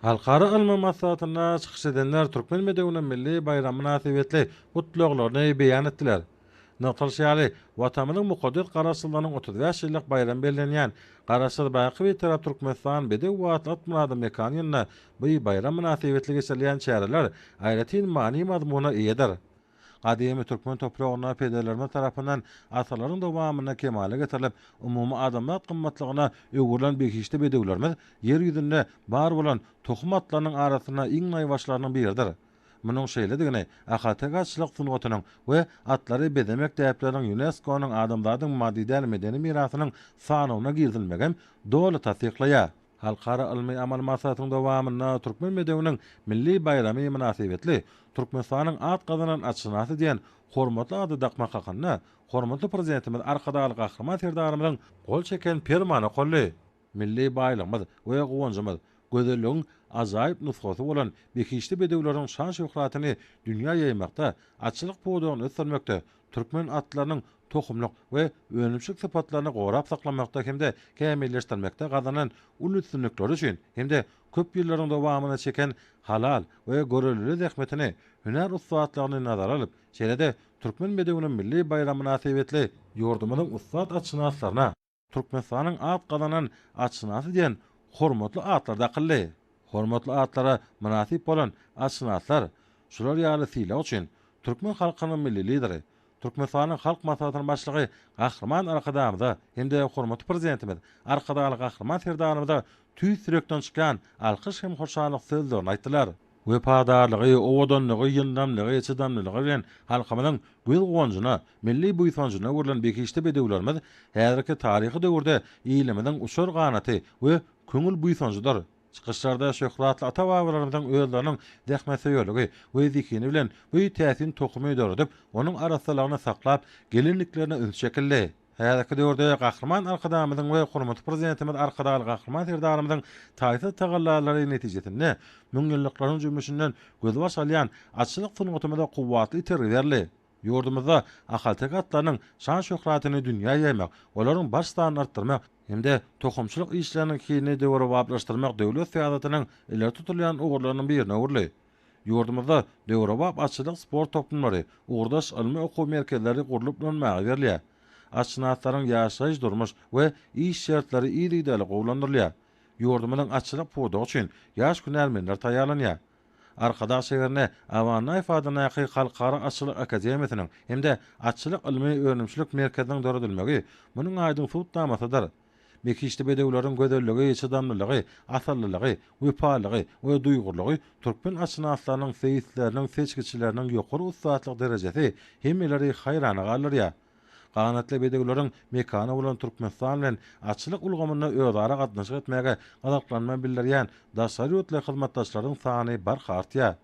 Halkara ylmy maslahatynda çykyş edenler türkmen bedewiniň milli baýramy mynasybetli gutlaglaryny beýan etdiler. Nygtalyşy ýaly, Watanymyzyň mukaddes Garaşsyzlygynyň otuz bäş ýyllyk baýramy bellenýän Garaşsyz, baky Bitarap Türkmenistan bedew Watly Atmyradyň mekany ýanynda bu baýram mynasybetli geçirilýän çäreler aýratyn many-mazmuna eýedir. Gadymy türkmen topragynda pederlerimiz tarapyndan asyrlaryň dowamynda kemala getirilip, umumy adamzat gymmatlygyna öwrülen behişdi bedewlerimiz Ýer ýüzünde bar bolan tohum atlarynyň arasynda iň naýbaşylarynyň biridir. Munuň şeýledigini ahalteke-atçylyk sungatynyň we atlary bezemek däpleriniň ÝUNESKO-nyň Adamzadyň maddy däl medeni mirasynyň sanawyna girizilmegem doly tassyklaýar. Halkara ylmy-amaly maslahatyň dowamynda Türkmen bedewiniň milli baýramy mynasybetli Türkmenistanyň at gazanan atşynasy diýen hormatly ady dakmak hakynda hormatly Prezidentimiz Arkadagly Gahryman Serdarymyzyň gol çeken Permany okaldy. Milli baýlygymyz we guwanjymyz, gözelligiň ajaýyp nusgasy bolan behişdi bedewleriň şan-şöhratyny dünýä ýaýmakda, atçylyk pudagyny ösdürmekde, türkmen atlarynyň tohumlyk we önümçilik sypatlaryny gorap saklamakda hem-de kämilleşdirmekde gazanan uly üstünlikleri üçin hem-de köp ýyllaryň dowamynda çeken halal we görelde zähmetini, hünär ussatlygyny nazara alyp, şeýle-de Türkmen bedewiniň milli baýramy mynasybetli ýurdumyzyň ussat atşynaslaryna, Türkmenistanyň at gazanan atşynasy diýen hormatly atlar dakyldy. Hormatly atlara mynasyp bolan atşynaslar şular ýaly sylag üçin türkmen halkynyň Milli Lideri, Türkmenistanyň Halk Maslahatynyň Başlygy Gahryman Arkadagymyza hem-de hormatly Prezidentimiz Arkadagly Gahryman Serdarymyza tüýs ýürekden çykýan alkyş hem hoşallyk sözlerini aýtdylar. wepadarlygy, owadanlygy, ýyndamlygy, çydamlylygy bilen halkymyzyň göz-guwanjyna, milli buýsanjyna öwrülen behişdi bedewlerimiz häzirki taryhy döwürde ilimiziň uçar ganaty we köňül buýsanjydyr. Çykyşlarda şöhratly ata-babalarymyzyň özleriniň zähmetsöýerligi we zehini bilen bu täsin tohumy döredip, onuň arassalygyny saklap gelendiklerine üns çekildi. Häzirki döwürde Gahryman Arkadagymyzyň we hormatly Prezidentimiz Arkadagly Gahryman Serdarymyzyň taýsyz tagallalary netijesinde müňýyllyklaryň jümmüşinden gözbaş alýan atçylyk sungatymyza kuwwatly itergi berildi. Ýurdumyzda ahalteke atlarynyň şan-şöhratyny dünýä ýaýmak, olaryň baş sanyny artdyrmak hem-de tohumçylyk işleriniň hilini döwrebaplaşdyrmak döwlet syýasatynyň ileri tutulýan ugurlarynyň birine öwrüldi. Ýurdumyzda döwrebap atçylyk sport toplumlary, ugurdaş ylmy okuw merkezleri gurlup ulanmaga berilýär. Atşynaslaryň ýaşaýyş-durmuş we iş şertleri yzygiderli gowulandyrylýar. Ýurdumyzyň atçylyk pudagy üçin ýaş hünärmenler taýýarlanýar. Arkadag şäherine Awannaýew adyndaky Halkara atçylyk akademiýasynyň hem-de Atçylyk ylmy-önümçilik merkeziniň döredilmegi munuň aýdyň subutnamasydyr. Mekişli bedewleriň gözelligi, çydamlylygy, asyllylygy, wepalylygy we duýgurlygy, türkmen atşynaslarynyň, seýisleriniň, seçgiçileriniň ýokary ussatlyk derejesi hemmeleri haýrana galdyrýar. Ganatly bedewleriň mekany bolan Türkmenistan bilen atçylyk ulgamynda özara gatnaşyk etmäge gyzyklanma bildirýän daşary ýurtly hyzmatdaşlaryň sany barha artýar.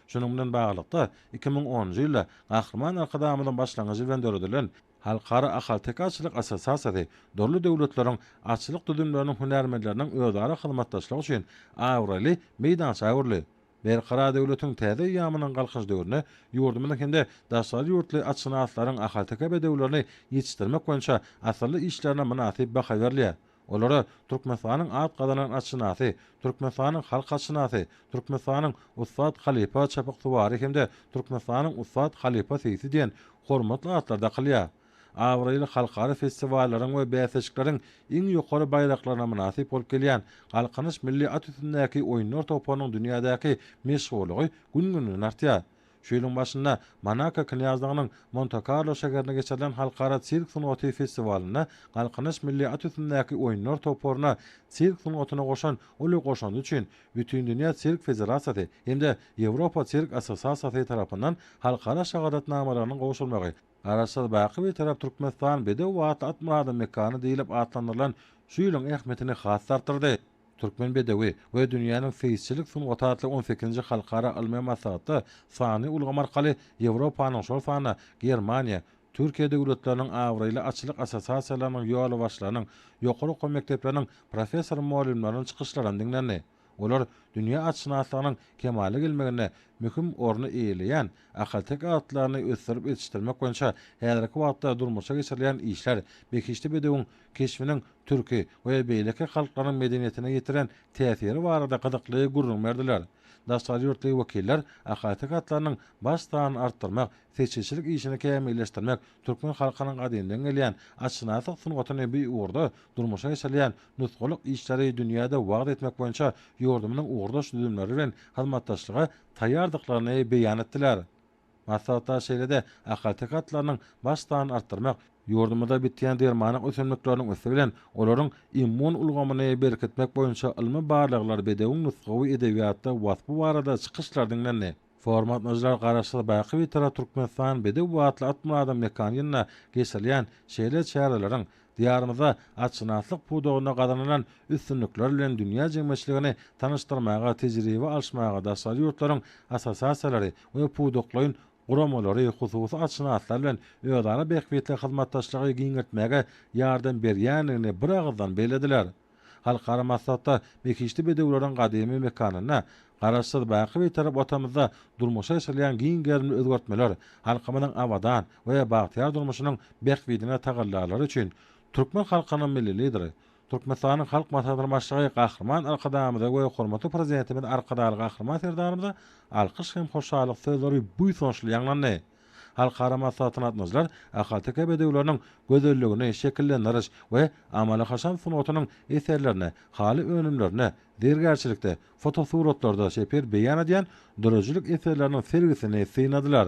Şunuň bilen baglylykda, iki müň onunjy ýylda Gahryman Arkadagymyzyň başlangyjy bilen döredilen, Halkara ahalteke-atçylyk assosiasiýasy dürli döwletleriň atçylyk düzümleriniň hünärmenleriniň özara hyzmatdaşlygy üçin abraýly meýdança öwrüldi. Berkarar döwletiň täze eýýamynyň Galkynyş döwründe ýurdumyzyň hem-de daşary ýurtly atşynaslaryň ahalteke bedewlerini ýetişdirmek boýunça asylly işlerine mynasyp baha berilýär. Olara Türkmenistanyň at gazanan atşynasy, Türkmenistanyň halk atşynasy, Türkmenistanyň ussat halypa çapyksuwary hem-de Türkmenistanyň ussat halypa seýsi diýen hormatly atlar dakylýar. Abraýly halkara festiwallaryň we bäsleşikleriň iň ýokary baýraklaryna mynasyp bolup gelýän Galkynyş milli at üstündäki oýunlar toparynyň dünýädäki meşhurlygy gün-günden artýar. Şu ýylyň başynda Monako knýazlygynyň Monte-Karlo şäherinde geçirilen Halkara sirk sungaty festiwalynda Galkynyş milli at üstündäki oýunlar toparyna sirk sungatyna goşan uly goşandy üçin Bütindünýä sirk federasiýasy hem-de Ýewropa sirk assosiasiýasy tarapyndan halkara şahadatnamalarynyň gowşurmagy Garaşsyz, baky Bitarap Türkmenistan bedew atly Atmyradyň mekany diýlip atlandyrylan şu ýylyň ähmiýetini has-da artdyrdy. Türkmen bedewi we dünýäniň seýisçilik sungaty atly on sekizinji halkara ylmy maslahatda sanly ulgam arkaly Ýewropanyň, şol sanda Germaniýa, Türkiýe döwletleriniň abraýly atçylyk assosiasiýalarynyň ýolbaşçylarynyň, ýokary okuw mekdepleriniň professor-mugallymlarynyň çykyşlaryny diňlendi. Olar dünýä atşynaslygynyň kemala gelmeginde möhüm orny eýeleýän ahalteke atlaryny ösdürip ýetişdirmek boýunça häzirki wagtda durmuşa geçirilýän işler behişdi bedewiň keşbiniň türki we beýleki halklaryň medeniýetine ýetiren täsiri barada gyzykly gürrüň berdiler. Daşary ýurtly wekiller Ahaty gatlarynyň baş sanyny artdyrmak, seçilçilik işini kämilleşdirmek, türkmen halkynyň gadymdan gelýän atşynaslyk sungatyny bu ugurda durmuşa geçirilýän nusgalyk işleri dünýäde wagyz etmek boýunça ýurdumyzyň ugurdaş düzümleri bilen hyzmatdaşlyga taýýardyklaryny beýan etdiler. Maslahata şeýle-de ahalteke atlarynyň baş sanyny artdyrmak, ýurdumyzda bitýän dermanlyk ösümlikleriniň üsti bilen olaryň immun ulgamyny berkitmek boýunça ylmy barlaglar, bedewiň nusgawy edebiýatda waspy barada çykyşlar diňlendi. Forum gatnaşyjylar Garaşsyz, baky Bitarap Türkmenistan bedew atly at myradyň mekany ýylynda geçirilýän şeýle çäreleriň Diýarymyzda atşynaslyk pudagynda gazanylan üstünlikler bilen dünýä jemgyýetçiligini tanyşdyrmaga, tejribe alyşmaga daşary ýurtlaryň assosiasiýalary we pudaklaýyn guramalary hususy atşynaslar bilen özara bähbitli hyzmatdaşlygy giňeltmäge ýardam berýändigini biragyzdan bellediler. Halkara maslahatda Mekişli bedewleriň gadymy mekanynda Garaşsyz, baky Bitarap Watanymyzda durmuşa geçirilýän giň gerimli özgertmeler, halkymyzyň abadan we bagtyýar durmuşynyň bähbidine tagallalary üçin türkmen halkynyň Milli Lideri, Türkmenistanyň Halk Maslahatynyň Başlygy Gahryman Arkadagymyza we hormatly Prezidentimiz Arkadagly Gahryman Serdarymyza alkyş hem hoşallyk sözleri buýsançly ýaňlandy. Halkara maslahatyna gatnaşyjylar ahalteke bedewleriniň gözelligini şekillendiriş we amaly-haşam sungatynyň eserlerini, haly önümlerini, zergärçilikde, fotosuratlarda şepil beýan edýän döredijilik eserleriniň sergisini synladylar.